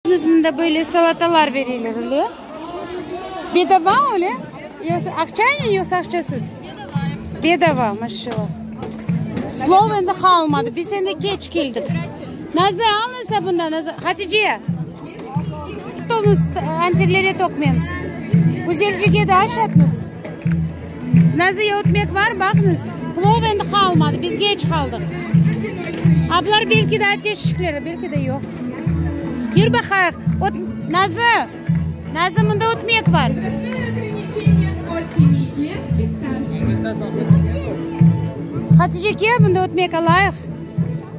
Bildiñiz, mında böyle salatalar berilir, öyle? Bedava, öyle? Yoqsa aqçaynen, yoqsa aqçasız? Bedava, yoqsa. Bedava, maşallah. Plov endi qalmadı, biz endi keç keldik. Nazlı, al esa bundan, Nazlı. Hatice! Stolnıñ antirlere toqmeniz. Güzelcege de aşatnız. Nazı ötmek var, baqıñız. Plov endi qalmadı, biz geç qaldıq. Ablar belki de ateş şikleri, belki de yoq. Yür baqayıq. Ot, Nazı! Nazı, mında ötmek var. Hatice, kel, mında ötmek alayıq.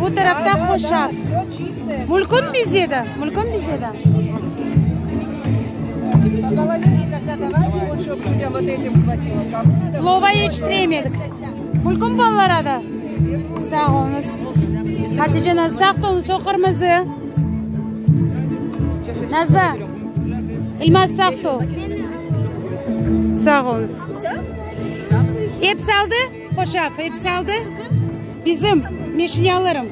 Bu tarafta Qoşa. Mülkün bize de, mülkün bize de. Plova yetiştiremedik. Mülkün balalara da. Sağ olunız. Hatice ana, sağ olun, soy qırmızı. Nazda. İlmaz sağ ol. Sağ olunız. Hepsi aldı? Hoşaf, episi aldı. Bizim, meşinyalarım.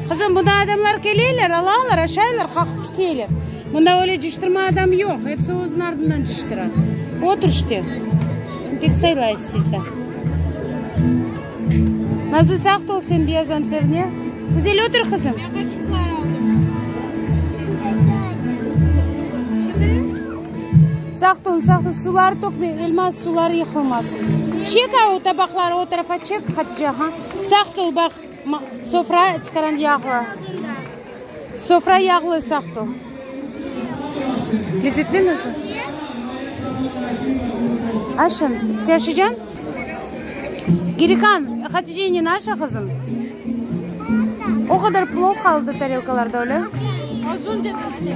Qızım, bunda adamlar keleyler, alalar, aşaylar, qaqıp kiteyler. Bunda öyle ciştirme adam yoq, episi özüniñ ardından ciştira. Otur işte. Pek saylayız sizde. Nazlı, sağt ol sen beyaz anterine. Güzel otur qızım. Şimdi? Saqtun, saqtun, suları tökme, elmaz, suları yıqılmasın. Çek a o tabaqları o tarafa çek, Hatice, ha. Saqt ol, baq, ma, sofra çıqaran yağlı. Sofra yağlı, saqt ol. Lezzetli mi? Aşañız, se aşacan? Gelikan, Haticenen aşa, qızım. O qadar plov qaldı tarelkalarda, öyle? Azun dedim, ene.